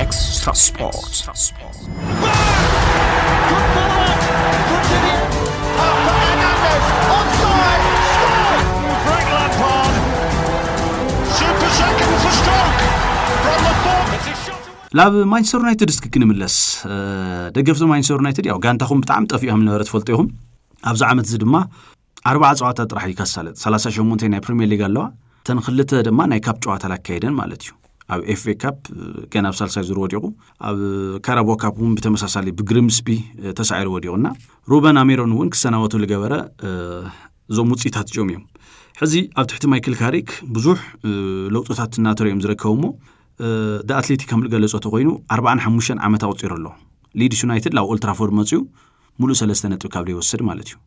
Extra Sports. ናብ ማንቸስተር ዩናይትድ እስኪ ክንምለስ ደገፍቲ ማንቸስተር ዩናይትድ ያው ጋንታኹም ብጣዕሚ ጠፊኦም ነበረ ትፈልጡ ኢኹም ኣብዚ ዓመት እዚ ድማ ኣርባዓ ፀዋታ ጥራሕ እዩ ካሳለጥ ሰላሳ ሸሞንተ ናይ ፕሪምየር ሊግ ኣለዋ እተን ክልተ ድማ ናይ ካፕ ጨዋታ ላካየደን ማለት እዩ ኣብ ኤፍኤ ካፕ ገና ኣብ ሳልሳይ ዙር ወዲቑ ኣብ ካራቦ ካፕ እውን ብተመሳሳሊ ብግሪምስቢ ተሳዒሩ ወዲቑና ሩበን ኣሜሮን እውን ክሰናበቱ ዝገበረ እዞም ውፅኢታት እዚኦም እዮም ሕዚ ኣብ ትሕቲ ማይክል ካሪክ ብዙሕ ለውጥታት እናተረ እዮም ዝረከቡ እሞ ኣትሌቲ ከም ዝገለፆ ተኮይኑ ኣርባን ሓሙሽተን ዓመት ኣቁፂሩ ኣሎ ሊድስ ዩናይትድ ላብ ኦልትራፎርድ መፅኡ ሙሉእ ሰለስተ ነጥቢ ካብ ዘይወስድ ማለት እዩ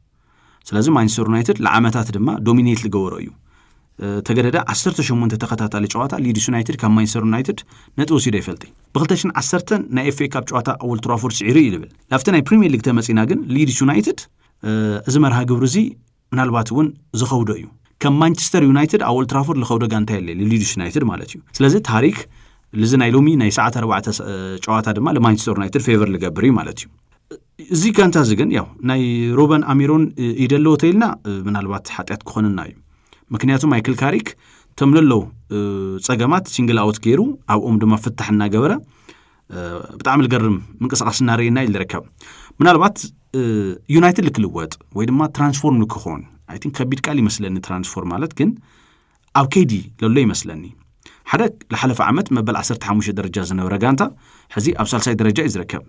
ስለዚ ማንቸስተር ዩናይትድ ንዓመታት ድማ ዶሚኔት ዝገበሮ እዩ ተገደደ 18 ተኸታታሊ ጨዋታ ሊድስ ዩናይትድ ካብ ማንቸስተር ዩናይትድ ነጥቢ ወሲዶ ይፈልጥ ብ210 ናይ ኤፍኤ ካብ ጨዋታ ኣወል ትራፎርድ ስዒሩ እዩ ዝብል ናብቲ ናይ ፕሪምየር ሊግ ተመፂና ግን ሊድስ ዩናይትድ እዚ መርሃ ግብሪ እዚ ምናልባት እውን ዝኸውዶ እዩ ከም ማንቸስተር ዩናይትድ ኣብ ኦልትራፎርድ ዝኸውዶ ጋንታ የለ ሊድስ ዩናይትድ ማለት እዩ ስለዚ ታሪክ እዚ ናይ ሎሚ ናይ ሰዓት ኣርባዕተ ጨዋታ ድማ ንማንቸስተር ዩናይትድ ፌቨር ዝገብር እዩ ማለት እዩ እዚ ጋንታ እዚ ግን ያው ናይ ሩበን ኣሚሮን ኢደ ኣለዎ ተኢልና ምናልባት ሓጢኣት ክኾንና እዩ ምክንያቱ ማይክል ካሪክ እቶም ለለው ፀገማት ሲንግል ኣውት ገይሩ ኣብኦም ድማ ፍታሕ እናገበረ ብጣዕሚ ዝገርም ምንቅስቃስ እናርእና እዩ ዝርከብ ምናልባት ዩናይትድ ልክልወጥ ወይ ድማ ትራንስፎርም ልክኾን ኣይ ቲንክ ከቢድ ቃል ይመስለኒ ትራንስፎርም ማለት ግን ኣብ ከይዲ ለሎ ይመስለኒ ሓደ ዝሓለፈ ዓመት መበል 15 ደረጃ ዝነበረ ጋንታ ሕዚ ኣብ ሳልሳይ ደረጃ እዩ ዝርከብ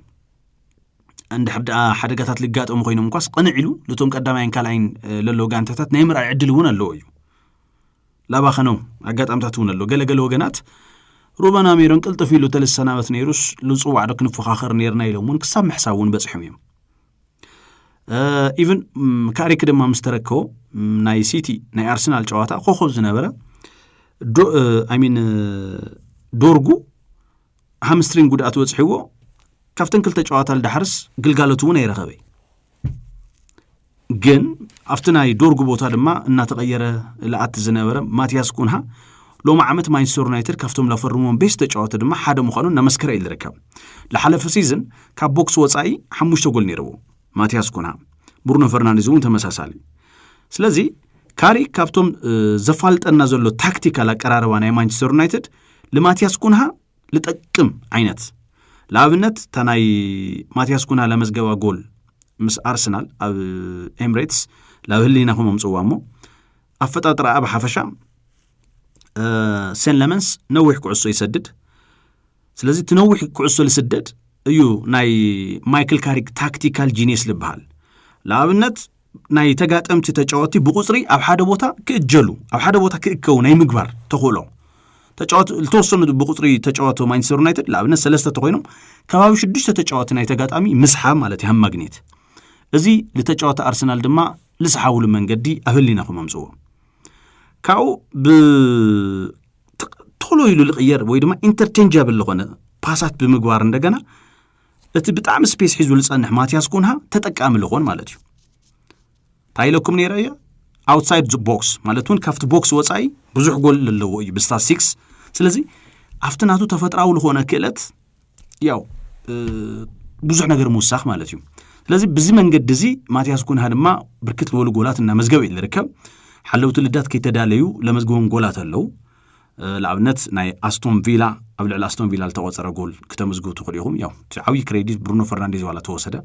እንድሕር ደኣ ሓደጋታት ልጋጠሙ ኮይኖም እኳስ ቕንዕ ኢሉ ነቶም ቀዳማይን ካልኣይን ለለዎ ጋንታታት ናይ ምርኣይ ዕድል እውን ኣለዎ እዩ ላባኸነው ኣጋጣሚታት እውን ኣሎ ገለገለ ወገናት ሩበን ኣሜሮን ቅልጥፍ ኢሉ ተልሰናበት ነይሩስ ልፅዋዕ ዶ ክንፎኻኸር ነርና ኢሎም እውን ክሳብ ምሕሳብ እውን በፂሖም እዮም ኢቨን ካሪክ ድማ ምስ ተረከቦ ናይ ሲቲ ናይ ኣርሰናል ጨዋታ ኮኸብ ዝነበረ ሚን ዶርጉ ሃምስትሪንግ ጉድኣት በፅሕዎ ካብተን ክልተ ጨዋታ ልዳሓርስ ግልጋሎት እውን ኣይረኸበ ግን ኣብቲ ናይ ዶርጉ ቦታ ድማ እናተቐየረ ልኣቲ ዝነበረ ማትያስ ኩንሃ ሎሚ ዓመት ማንቸስተር ዩናይትድ ካብቶም ላፈርሞም ቤስ ተጫወቲ ድማ ሓደ ምዃኑ እናመስከረ እዩ ዝርከብ ልሓለፈ ሲዝን ካብ ቦክስ ወፃኢ ሓሙሽተ ጎል ነይርዎ ማቲያስ ኩና፣ ብሩኖ ፈርናንዴዝ እውን ተመሳሳሊ። ስለዚ ካሪክ ካብቶም ዘፋልጠና ዘሎ ታክቲካል ኣቀራርባ ናይ ማንቸስተር ዩናይትድ ልማትያስ ኩንሃ ልጠቅም ዓይነት ንኣብነት እታ ናይ ማትያስ ኩንሃ ለመዝገባ ጎል ምስ ኣርሰናል ኣብ ኤምሬትስ ላብ ህሊናኹም ኣምፅዋ እሞ ኣፈጣጥራ ኣብ ሓፈሻ ሴን ለመንስ ነዊሕ ኩዕሶ ይሰድድ ስለዚ እቲ ነዊሕ ኩዕሶ ዝስደድ እዩ ናይ ማይክል ካሪክ ታክቲካል ጂኒስ ዝበሃል ንኣብነት ናይ ተጋጠምቲ ተጫወቲ ብቁፅሪ ኣብ ሓደ ቦታ ክእጀሉ ኣብ ሓደ ቦታ ክእከቡ ናይ ምግባር ተኽእሎ ተጫወቲ ዝተወሰኑ ብቁፅሪ ተጫወቲ ማንቸስተር ዩናይትድ ንኣብነት ሰለስተ ተኮይኖም ከባቢ ሽዱሽተ ተጫወቲ ናይ ተጋጣሚ ምስሓብ ማለት እዩ ማግኔት እዚ ንተጫወቲ ኣርሰናል ድማ ዝሰሓብሉ መንገዲ ኣብ ህሊናኹም ኣምፅዎ ካብኡ ቶሎ ኢሉ ዝቕየር ወይ ድማ ኢንተርቼንጃብል ዝኾነ ፓሳት ብምግባር እንደገና እቲ ብጣዕሚ ስፔስ ሒዙ ዝፀንሕ ማትያስ ኩንሃ ተጠቃሚ ዝኾን ማለት እዩ እንታይ ኢለኩም ነይረ እየ ኣውትሳይድ ቦክስ ማለት እውን ካብቲ ቦክስ ወፃኢ ብዙሕ ጎል ዘለዎ እዩ ብስታትስቲክስ ስለዚ ኣብቲ ናቱ ተፈጥራዊ ዝኾነ ክእለት ያው ብዙሕ ነገር ምውሳኽ ማለት እዩ ስለዚ ብዚ መንገዲ እዚ ማትያስ ኩንሃ ድማ ብርክት ዝበሉ ጎላት እናመዝገበ እዩ ዝርከብ ሓለውቲ ልዳት ከይተዳለዩ ለመዝግቦም ጎላት ኣለው ንኣብነት ናይ ኣስቶን ቪላ ኣብ ልዕሊ ኣስቶን ቪላ ዝተቆፀረ ጎል ክተመዝግቡ ትኽእሉ ኢኹም ያው እቲ ዓብዪ ክሬዲት ብሩኖ ፈርናንዴዝ ዋላ ተወሰደ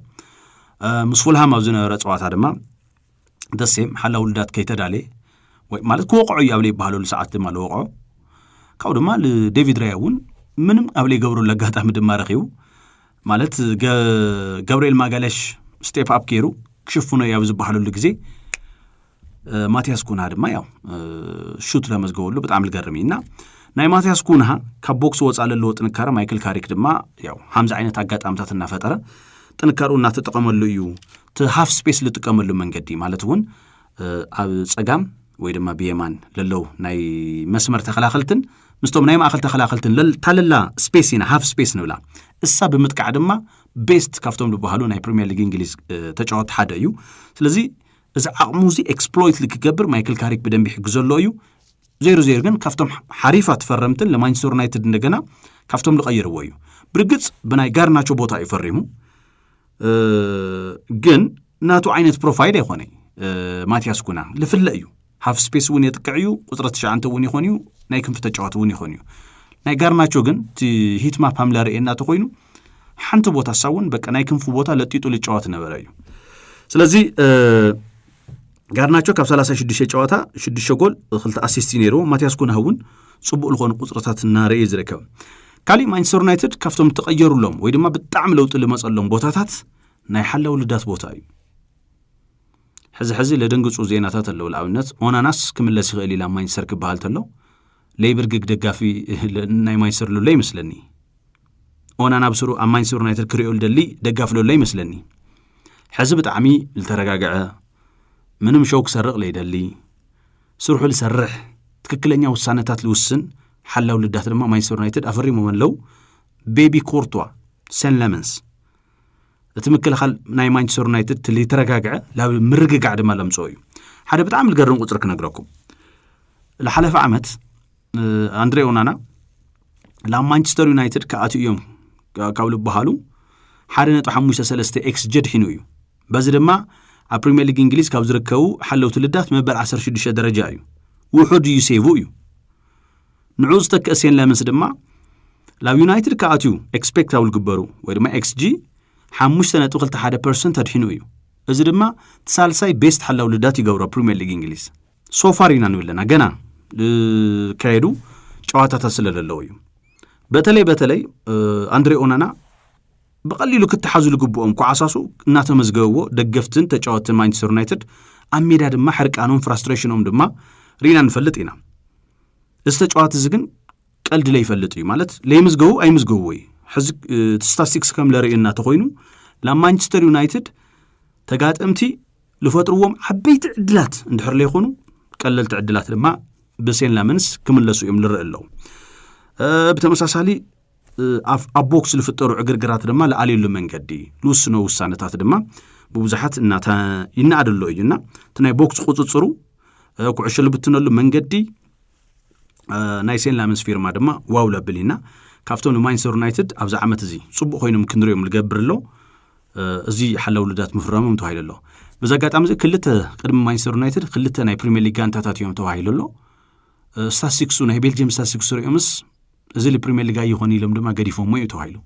ምስ ፉልሃም ኣብ ዝነበረ ፀዋታ ድማ ደሴም ሓላ ውልዳት ከይተዳለ ማለት ክወቕዑ እዩ ኣብ ዘይበሃለሉ ሰዓት ድማ ዝወቕዖ ካብኡ ድማ ዴቪድ ራያ እውን ምንም ኣብ ዘይገብረሉ ኣጋጣሚ ድማ ረኺቡ ማለት ገብርኤል ማጋለሽ ስቴፕ ኣፕ ገይሩ ክሽፍኖ እዩ ኣብ ዝበሃለሉ ግዜ ማትያስ ኩንሃ ድማ ያው ሹት ለመዝገበሉ ብጣዕሚ ዝገርም እዩ እና ናይ ማትያስ ኩንሃ ካብ ቦክስ ወፃ ዘለዎ ጥንካረ ማይክል ካሪክ ድማ ያው ሓምዚ ዓይነት ኣጋጣሚታት እናፈጠረ ጥንካርኡ እናተጠቐመሉ እዩ እቲ ሃፍ ስፔስ ልጥቀመሉ መንገዲ ማለት እውን ኣብ ፀጋም ወይ ድማ ብየማን ለለው ናይ መስመር ተኸላኸልትን ምስቶም ናይ ማእኸል ተኸላኸልትን ታለላ ስፔስ ኢና ሃፍ ስፔስ ንብላ እሳ ብምጥቃዕ ድማ ቤስት ካብቶም ዝበሃሉ ናይ ፕሪምየር ሊግ እንግሊዝ ተጫወቲ ሓደ እዩ ስለዚ እዚ ዓቕሙ እዚ ኤክስፕሎይት ልክገብር ማይክል ካሪክ ብደንቢ ይሕግዘሎ እዩ ዜሮ ዜሮ ግን ካብቶም ሓሪፋት ፈረምትን ለማንቸስተር ዩናይትድ እንደገና ካብቶም ዝቐይርዎ እዩ ብርግፅ ብናይ ጋርናቾ ቦታ እዩ ፈሪሙ ግን ናቱ ዓይነት ፕሮፋይል ኣይኮነይ ማትያስ ኩና ልፍለ እዩ ሃፍ ስፔስ እውን የጥቅዕ እዩ ቁፅሪ ትሽዓንተ እውን ይኾን እዩ ናይ ክንፊ ተጫዋት እውን ይኾን እዩ ናይ ጋርናቾ ግን እቲ ሂትማፕ ሃምላ ርኤ እናተኮይኑ ሓንቲ ቦታ ሳውን በቃ ናይ ክንፊ ቦታ ለጢጡ ልጫወት ነበረ እዩ ስለዚ ጋርናቾ ካብ 36 ጨዋታ 6 ጎል ክልተ ኣሲስት እዩ ነይርዎ ማትያስ ኩንሃ እውን ፅቡቅ ዝኾኑ ቁፅርታት እናረእየ ዝርከብ ካሊእ ማንቸስተር ዩናይትድ ካብቶም ተቐየሩሎም ወይ ድማ ብጣዕሚ ለውጢ ልመፀሎም ቦታታት ናይ ሓላው ልዳት ቦታ እዩ ሕዚ ሕዚ ለደንግፁ ዜናታት ኣለዉ ንኣብነት ኦናናስ ክምለስ ይኽእል ኢላ ማንቸስተር ክበሃል ተሎ ለይብርግግ ደጋፊ ናይ ማንቸስተር ሎሎ ይመስለኒ ኦናና ብስሩ ኣብ ማንቸስተር ዩናይትድ ክሪኦ ልደሊ ደጋፊ ሎሎ ይመስለኒ ሕዚ ብጣዕሚ ዝተረጋግዐ ምንም ሸው ክሰርቕ ለይደሊ ስርሑ ዝሰርሕ ትክክለኛ ውሳነታት ዝውስን ሓላው ልዳት ድማ ማንቸስተር ዩናይትድ ኣፈሪሞም ኣለው ቤቢ ኮርቷ ሰን ለመንስ እቲ ምክልኻል ናይ ማንቸስተር ዩናይትድ እቲ ዝተረጋግዐ ናብ ምርግጋዕ ድማ ለምፅኦ እዩ ሓደ ብጣዕሚ ዝገርም ቁፅሪ ክነግረኩም ዝሓለፈ ዓመት ኣንድሬ ኦናና ናብ ማንቸስተር ዩናይትድ ክኣትኡ እዮም ካብ ዝበሃሉ ሓደ ነጥቢ ሓሙሽተ ሰለስተ ኤክስ ጀድ ሒኑ እዩ በዚ ድማ ኣብ ፕሪምየር ሊግ እንግሊዝ ካብ ዝርከቡ ሓለውቲ ልዳት መበል ዓሰርተ ሽዱሽተ ደረጃ እዩ ውሑድ እዩ ሴቡ እዩ ንዑ ዝተክእ ሴን ለምንስ ድማ ላብ ዩናይትድ ክኣትዩ ኤክስፔክት ኣብ ዝግበሩ ወይ ድማ ኤክስጂ ሓሙሽተ ነጥቢ ክልተ ሓደ ፐርሰንት ኣድሒኑ እዩ እዚ ድማ እቲ ሳልሳይ ቤስት ሓላዊ ልዳት ይገብሮ ፕሪምየር ሊግ እንግሊዝ ሶፋር ኢና ንብል ኣለና ገና ዝካየዱ ጨዋታታት ስለ ዘለዉ እዩ በተለይ በተለይ ኣንድሬ ኦናና ብቐሊሉ ክተሓዙ ዝግብኦም ኳዓሳሱ እናተመዝገብዎ ደገፍትን ተጫወትን ማንቸስተር ዩናይትድ ኣብ ሜዳ ድማ ሕርቃኖም ፍራስትሬሽኖም ድማ ርኢና ንፈልጥ ኢና እዚ ተጫዋቲ እዚ ግን ቀልዲ ለይፈልጥ እዩ ማለት ለይምዝገቡ ኣይምዝገቡ ወይ ሕዚ እቲ ስታስቲክስ ከም ለርእየና ተኮይኑ ናብ ማንቸስተር ዩናይትድ ተጋጠምቲ ዝፈጥርዎም ዓበይቲ ዕድላት እንድሕር ለይኮኑ ቀለልቲ ዕድላት ድማ ብሴን ላመንስ ክምለሱ እዮም ልርኢ ኣለዉ ብተመሳሳሊ ኣብ ቦክስ ዝፍጠሩ ዕግርግራት ድማ ዝኣልየሉ መንገዲ ዝውስኖ ውሳነታት ድማ ብብዙሓት እናተ ይነኣደሎ እዩና እቲ ናይ ቦክስ ቁፅፅሩ ኩዕሾ ልብትነሉ መንገዲ ናይ ሴን ላመንስ ፊርማ ድማ ዋው ለብል ኢና ካብቶም ንማንቸስተር ዩናይትድ ኣብዚ ዓመት እዚ ፅቡቅ ኮይኖም ክንሪኦም ዝገብር ኣሎ እዚ ሓላው ልዳት ምፍራሞም ተባሂሉ ኣሎ በዚ ኣጋጣሚ እዚ ክልተ ቅድሚ ማንቸስተር ዩናይትድ ክልተ ናይ ፕሪምየር ሊግ ጋንታታት እዮም ተባሂሉ ኣሎ ስታስቲክሱ ናይ ቤልጅየም ስታስቲክሱ ሪኦምስ እዚ ፕሪምየር ሊግ ኣይኾነ ኢሎም ድማ ገዲፎሞ እዩ ተባሂሉ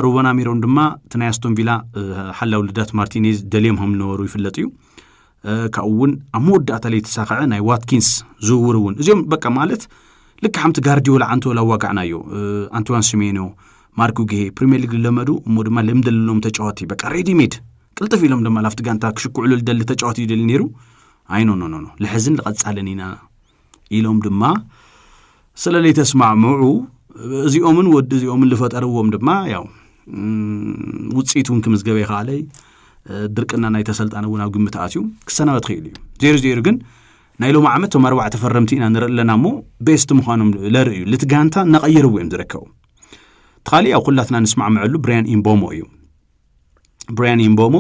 ሩበን ኣሚሮም ድማ እቲ ናይ ኣስቶን ቪላ ሓላው ልዳት ማርቲኔዝ ደልዮም ከም ዝነበሩ ይፍለጥ እዩ ካብኡ እውን ኣብ መወዳእታ ለይ ተሳክዐ ናይ ዋትኪንስ ዝውውር እውን እዚኦም በቃ ማለት ልክ ሓምቲ ጋርዲዮላ ዓንቶላ ዋጋዕና እዩ ኣንቶዋን ስሜኖ ማርኩ ግሄ ፕሪሚየር ሊግ ዝለመዱ እሞ ድማ ልምዲ ዘለዎም ተጫዋቲ በቃ ሬዲሜድ ቅልጥፍ ኢሎም ድማ ላፍቲ ጋንታ ክሽክዕሉ ዝደሊ ተጫዋቲ እዩ ደሊ ነይሩ ኣይኖኖኖ ልሕዝን ልቐፃልን ኢና ኢሎም ድማ ስለ ዘይተስማዕምዑ እዚኦምን ወዲ እዚኦምን ዝፈጠርዎም ድማ ያው ውፅኢት እውን ክምዝገበ ይኸኣለ ድርቅና ናይ ተሰልጣን እውን ኣብ ግምት ኣትዩ ክሰናበት ክኢሉ እዩ ዜሩ ዜሩ ግን ናይ ሎም ዓመት ቶም ኣርባዕተ ፈረምቲ ኢና ንርኢ ኣለና እሞ ቤስት ምዃኖም ለርእዩ ልቲ ጋንታ እናቐየርዎ እዮም ዝርከቡ እቲ ካሊእ ኣብ ኩላትና ንስማዕምዐሉ ብርያን ኢምቦሞ እዩ ብርያን ኢምቦሞ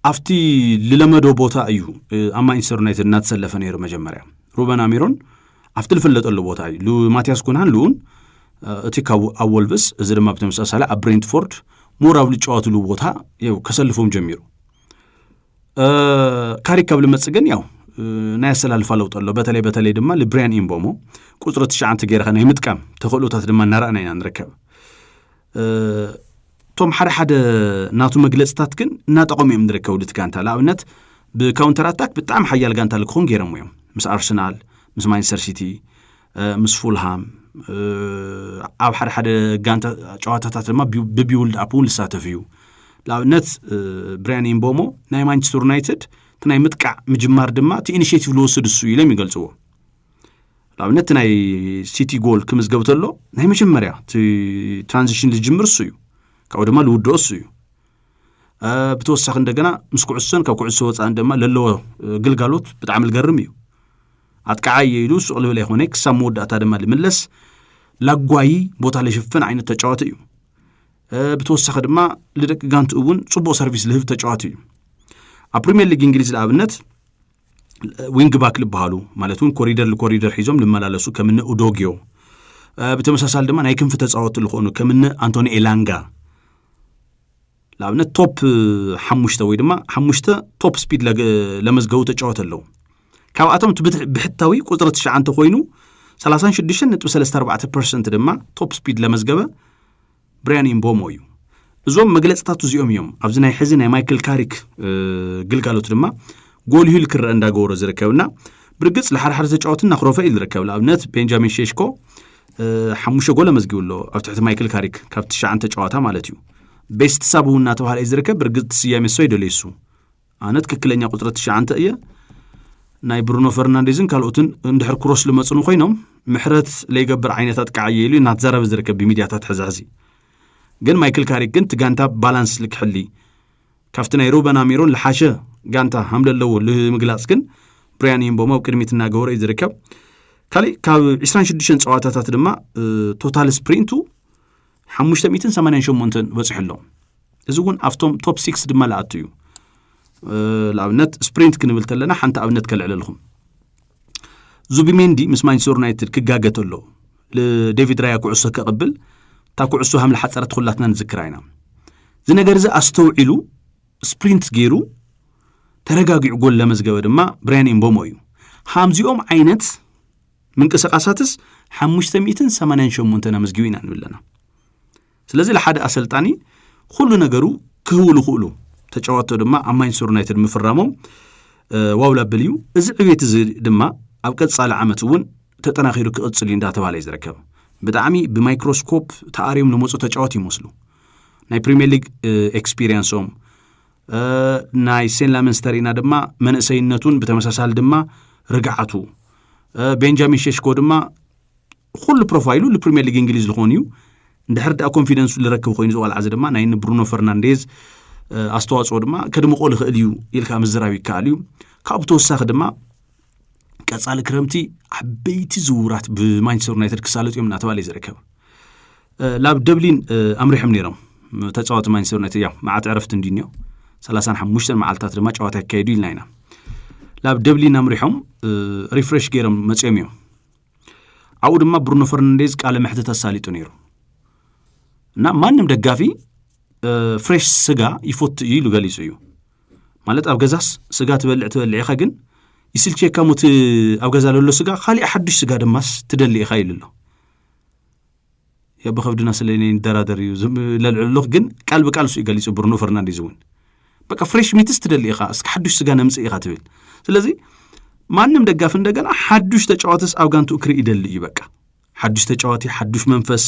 ኣብቲ ዝለመዶ ቦታ እዩ ኣብ ማንቸስተር ዩናይትድ እናተሰለፈ ነይሩ መጀመርያ ሩበን ኣሚሮን ኣብቲ ዝፍለጠሉ ቦታ እዩ ማትያስ ኩንሃን ልኡን እቲ ካብ ኣብ ወልቭስ እዚ ድማ ብተመሳሳሊ ኣብ ብሬንትፎርድ ሞር ኣብ ዝጫወትሉ ቦታ ው ከሰልፎም ጀሚሩ ካሪክ ካብ ልመፅ ግን ያው ናይ ኣሰላልፋ ለውጢ ኣሎ በተለይ በተለይ ድማ ልብርያን ኢምቦሞ ቁፅሪ ትሽዓንተ ገይርካ ናይ ምጥቃም ተኽእሎታት ድማ እናረኣና ኢና ንርከብ እቶም ሓደ ሓደ ናቱ መግለፅታት ግን እናጠቐሙ እዮም ዝርከቡ ድቲ ጋንታ ንኣብነት ብካውንተር ኣታክ ብጣዕሚ ሓያል ጋንታ ክኾን ገይሮም እዮም ምስ ኣርሰናል ምስ ማንቸስተር ሲቲ ምስ ፉልሃም ኣብ ሓደ ሓደ ጋንታ ጨዋታታት ድማ ብቢውልድ ኣፕ እውን ዝሳተፍ እዩ ንኣብነት ብሪያን ኢምቦሞ ናይ ማንቸስተር ዩናይትድ እቲ ናይ ምጥቃዕ ምጅማር ድማ እቲ ኢኒሽቲቭ ዝወስድ እሱ ኢሎም ይገልፅዎ ንኣብነት ናይ ሲቲ ጎል ክምዝገብ ተሎ ናይ መጀመርያ እቲ ትራንዚሽን ዝጅምር እሱ እዩ ካብኡ ድማ ዝውድኦ እሱ እዩ ብተወሳኺ እንደገና ምስ ኩዕሶን ካብ ኩዕሶ ወፃእን ድማ ለለዎ ግልጋሎት ብጣዕሚ ዝገርም እዩ ኣጥቃዓ እየ ኢሉ ሱቅ ልብል ኣይኮነ ክሳብ መወዳእታ ድማ ልምለስ ላጓይ ቦታ ልሽፍን ዓይነት ተጫዋቲ እዩ ብተወሳኺ ድማ ልደቂ ጋንት እውን ፅቡቅ ሰርቪስ ልህብ ተጫዋቲ እዩ ኣብ ፕሪምየር ሊግ እንግሊዝ ንኣብነት ዊንግባክ ዝበሃሉ ማለት እውን ኮሪደር ንኮሪደር ሒዞም ልመላለሱ ከምነ ኡዶግዮ ብተመሳሳሊ ድማ ናይ ክንፊ ተፃወቲ ዝኾኑ ከምነ ኣንቶኒ ኤላንጋ ንኣብነት ቶፕ ሓሙሽተ ወይ ድማ ሓሙሽተ ቶፕ ስፒድ ለመዝገቡ ተጫወት ኣለዉ ካብኣቶም እቲ ብሕታዊ ቁፅሪ ትሽዓንተ ኮይኑ 36.34 ፐርሰንት ድማ ቶፕ ስፒድ ለመዝገበ ብርያን ኢምቦሞ እዩ። እዞም መግለፅታት እዚኦም እዮም ኣብዚ ናይ ሕዚ ናይ ማይክል ካሪክ ግልጋሎት ድማ ጎልሁ ኢሉ ክረአ እንዳገበሮ ዝርከብና ብርግፅ ንሓድሓደ ተጫወቲ እናክረፈ እዩ ዝርከብ ንኣብነት ቤንጃሚን ሼሽኮ ሓሙሽተ ጎል ኣመዝጊቡ ኣሎ ኣብ ትሕቲ ማይክል ካሪክ ካብ ትሽዓን ተጫዋታ ማለት እዩ ቤስት ሳብ እውን እናተባሃለ እዩ ዝርከብ ብርግፅ ስያሜ ሶ ይደለዩ እሱ ኣነ ትክክለኛ ቁፅሪ ትሽዓንተ እየ ናይ ብሩኖ ፈርናንዴዝን ካልኦትን እንድሕር ክሮስ ልመፅኑ ኮይኖም ምሕረት ለይገብር ዓይነታት ከዓ እየ ኢሉ እናተዛረበ ዝርከብ ብሚድያታት ሕዚ ሕዚ ግን ማይክል ካሪክ ግን እቲ ጋንታ ባላንስ ልክሕሊ ካብቲ ናይ ሩበን ኣሚሮን ልሓሸ ጋንታ ሃምለ ኣለዎ ንምግላፅ ግን ብሪያን ይምቦሞ ኣብ ቅድሚት እናገበረ እዩ ዝርከብ ካሊእ ካብ 26 ፀዋታታት ድማ ቶታል ስፕሪንቱ ሓሙሽተ ሚእትን ሰማንያን ሸሞንተን በፂሑ ኣሎ እዚ እውን ኣብቶም ቶፕ ሲክስ ድማ ለኣቱ እዩ ንኣብነት ስፕሪንት ክንብል ተለና ሓንቲ ኣብነት ከልዕለልኩም ዙቢሜንዲ ምስ ማንቸስተር ዩናይትድ ክጋገ ተሎ ንዴቪድ ራያ ኩዕሶ ከቕብል እታ ኩዕሶ ሃም ዝሓፀረት ኩላትና ንዝክራ ኢና እዚ ነገር እዚ ኣስተውዒሉ ስፕሪንት ገይሩ ተረጋጊዑ ጎል ለመዝገበ ድማ ብራያን ኤምቦሞ እዩ ሃምዚኦም ዓይነት ምንቅስቃሳትስ ሓሙሽተ ሚእትን ሰማንያን ሸሞንተን ኣመዝጊቡ ኢና ንብል ኣለና ስለዚ ንሓደ ኣሰልጣኒ ኩሉ ነገሩ ክህቡ ዝኽእሉ ተጫወቶ ድማ ኣብ ማንቸስተር ዩናይትድ ምፍራሞም ዋው ላብል እዩ እዚ ዕቤት እዚ ድማ ኣብ ቀጻሊ ዓመት እውን ተጠናኺሩ ክቕጽል እዩ እንዳተባሃለ እዩ ዝርከብ ብጣዕሚ ብማይክሮስኮፕ ተኣርዮም ንመፁ ተጫወት ይመስሉ ናይ ፕሪምየር ሊግ ኤክስፒሪየንሶም ናይ ሴን ላመንስተር ኢና ድማ መንእሰይነቱን ብተመሳሳሊ ድማ ርግዓቱ ቤንጃሚን ሸሽኮ ድማ ኩሉ ፕሮፋይሉ ንፕሪምየር ሊግ እንግሊዝ ዝኾኑ እዩ እንድሕር ዳኣ ኮንፊደንሱ ዝረክብ ኮይኑ ዝቆልዓ እዚ ድማ ናይ ንብሩኖ ፈርናንዴዝ ኣስተዋፅኦ ድማ ከድምቆ ዝኽእል እዩ ኢልካ ምዝራብ ይከኣል እዩ ካብኡ ብተወሳኺ ድማ ቀፃሊ ክረምቲ ዓበይቲ ዝውራት ብማንቸስተር ዩናይትድ ክሳለጡ እዮም እናተባለ እዩ ዝርከብ ላብ ደብሊን ኣምሪሖም ነይሮም ተፃወቲ ማንቸስተር ዩናይትድ ያው መዓት ዕረፍቲ እንዲ እኒኦ ሰላሳን ሓሙሽተን መዓልትታት ድማ ጨዋታ ይካየዱ ኢልና ኢና ላብ ደብሊን ኣምሪሖም ሪፍሬሽ ገይሮም መፅኦም እዮም ኣብኡ ድማ ብሩኖ ፈርናንዴዝ ቃለ መሕትት ኣሳሊጡ ነይሩ እና ማንም ደጋፊ ፍሬሽ ስጋ ይፈቱ እዩ ኢሉ ገሊጹ እዩ ማለት ኣብ ገዛስ ስጋ ትበልዕ ትበልዕ ኢኻ ግን ይስልቸካ ሞቲ ኣብ ገዛ ለሎ ስጋ ካሊእ ሓዱሽ ስጋ ድማስ ትደሊ ኢኻ ኢሉ ኣሎ ያው ብከብድና ስለ ንደራደር እዩ ለልዕሉኽ ግን ቃል ብቃል እሱ እዩ ገሊጹ ብሩኖ ፈርናንዴዝ እውን በቃ ፍሬሽ ሚትስ ትደሊ ኢኻ እስኪ ሓዱሽ ስጋ ነምጽእ ኢኻ ትብል ስለዚ ማንም ደጋፊ እንደገና ሓዱሽ ተጫዋትስ ኣብ ጋንትኡ ክርኢ ይደሊ እዩ በቃ ሓዱሽ ተጫዋቲ ሓዱሽ መንፈስ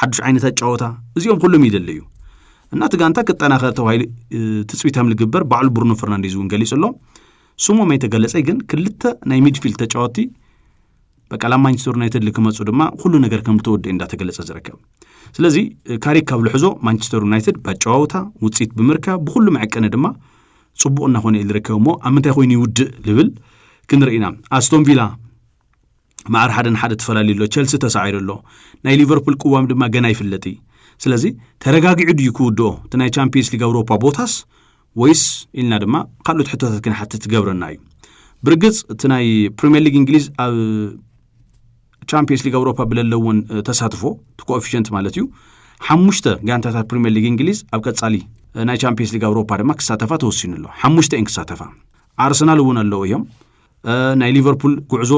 ሓዱሽ ዓይነት ኣጫወታ እዚኦም ኩሎም ይደሊ እዩ እና እቲ ጋንታ ክጠናኸር ተባሂሉ ትፅቢት ከም ዝግበር ባዕሉ ብሩኖ ፈርናንዴዝ እውን ገሊጹ ኣሎ ስሞም ኣይተገለጸይ ግን ክልተ ናይ ሚድፊልድ ተጫወቲ በቃ ላብ ማንቸስተር ዩናይትድ ክመፁ ድማ ኩሉ ነገር ከም ተወደ እንዳተገለፀ ዝርከብ ስለዚ ካሪክ ካብ ልሕዞ ማንቸስተር ዩናይትድ ባጨዋውታ ውፅኢት ብምርካብ ብኩሉ መዕቀኒ ድማ ፅቡቅ እናኾነ እዩ ዝርከብ እሞ ኣብ ምንታይ ኮይኑ ይውድእ ልብል ክንርኢና ኣስቶን ቪላ ማዕር ሓደ ንሓደ ተፈላለዩ ኣሎ ቸልሲ ተሳዒሩ ኣሎ ናይ ሊቨርፑል ቅዋም ድማ ገና ይፍለጥ እዩ ስለዚ ተረጋጊዑ ድዩ ክውድኦ እቲ ናይ ቻምፒየንስ ሊግ ኣውሮፓ ቦታስ ወይስ ኢልና ድማ ካልኦት ሕቶታት ክንሓትት ይገብረና እዩ። ብርግጽ እቲ ናይ ፕሪምየር ሊግ እንግሊዝ ኣብ ቻምፒየንስ ሊግ ኣውሮፓ ብለለዎን ተሳትፎ እቲ ኮኤፊሽንት ማለት እዩ ሓሙሽተ ጋንታታት ፕሪምየር ሊግ እንግሊዝ ኣብ ቀጻሊ ናይ ቻምፒየንስ ሊግ ኣውሮፓ ድማ ክሳተፋ ተወሲኑ ኣሎ ሓሙሽተ እየን ክሳተፋ ኣርሰናል እውን ኣለዉ እዮም ናይ ሊቨርፑል ጉዕዞ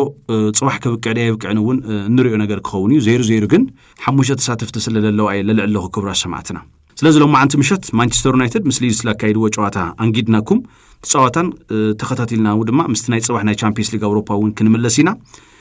ፅባሕ ከብቅዕ ደ የብቅዕን እውን እንሪኦ ነገር ክኸውን እዩ ዘይሩ ዘይሩ ግን ሓሙሽተ ተሳተፍቲ ስለ ዘለዋ እየ ለልዕል ለኹ ክብራ ሰማዕትና ስለዚ ሎማዓንቲ ምሸት ማንቸስተር ዩናይትድ ምስ ሊድስ ላካይድዎ ጨዋታ ኣንጊድናኩም ትፃዋታን ተኸታቲልናው ድማ ምስቲ ናይ ፅባሕ ናይ ቻምፒየንስ ሊግ ኣውሮፓ እውን ክንምለስ ኢና